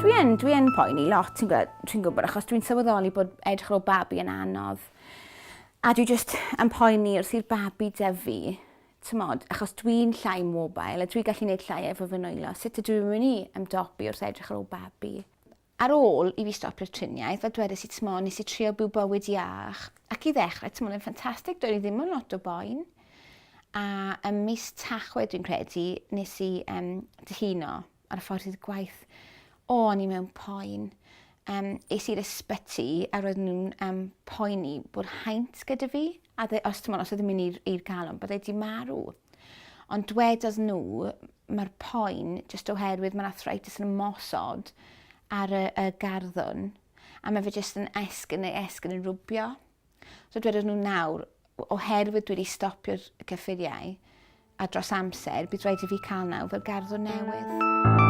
Dwi yn, dwi yn poeni lot, ti'n gwybod, dwi'n gwybod, achos dwi'n sylweddoli bod edrych ar ôl babi yn anodd. A dwi just yn poeni wrth i'r babi dyfu, t'mod, achos dwi'n llai mobile a dwi gallu neud llai efo fy nwylo, sut ydw i'n myn' i ymdopi wrth edrych ar ôl babi? Ar ôl i fi stopio'r triniaeth fel dwedais i t'mo' nes i trio byw bywyd iach ac i ddechre t'mod yn ffantastig doedd 'i ddim yn lot o boen a ym mis Tachwedd dwi'n credu nes i yym dihuno. ar y ffordd i'r gwaith o o'n i mewn poen. Um, es i'r ysbyty a roedden nhw'n um, poeni bod haint gyda fi, a dde, os ti'n os oedd yn mynd i'r, ir galon, bod wedi marw. Ond dwedodd nhw, mae'r poen jyst oherwydd mae'r arthritis yn ymosod ar y, y garddwn, a mae fe jyst yn esgyn neu esgyn yn rwbio. So dwedon nhw nawr, oherwydd dwi wedi stopio'r cyffuriau a dros amser, bydd rhaid i fi cael naw fel garddwr newydd.